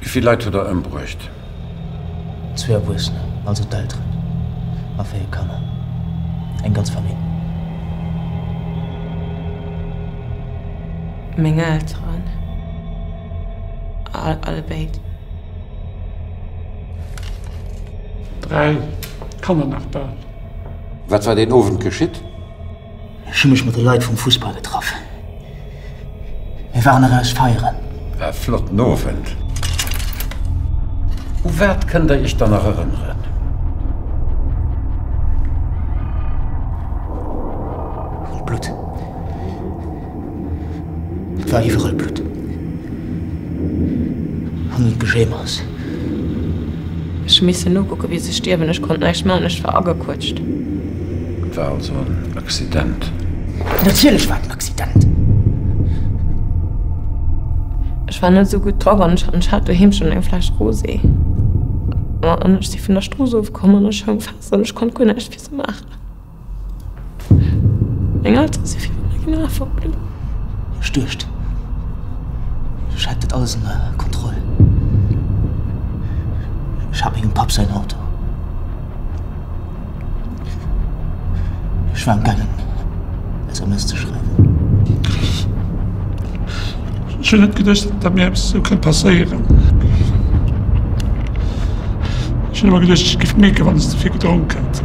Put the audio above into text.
Wéi vill Leit hutt Der ëmbruecht? Zwee Erwuessener, also d'Elteren, a véier Kanner, eng ganz Famill. Meng Elteren, allebéid. Dräi Kanner nach bal. Wat war deen Owend geschitt? Ech hu mech mat de Leit vum Fussball getraff. Mir waren eraus feieren. War e flotten Owend. U wat kënnt der Iech dann nach erënneren? Un d'Blutt. Et war iwwerall Blutt. An un d'Gejéimers. Ech hu missen nokucken, wéi se stierwen. Ech konnt näischt man, ech war agequëtscht. Et war also en Accident? Natierlech war et en Accident! Ech war net sou gutt drop an ech hat doheem schonn eng Fläsch Rosé. An ech si vun der Strooss ofkomm an ech houng fest an ech konnt guer näischt fir se maachen. Meng Elteren si virun der Gna verblënnt. Ech duecht, ech hätt et alles ënner Kontroll. Ech hat mengem Papp säin Auto. Ech war am gaangen, SMS ze schreiwen. Ech hunn net geduecht, datt mir eppes esou kënnt passéieren. Ech hunn ëmmer geduecht, ech géif mierken, wann ech ze vill gedronk hätt.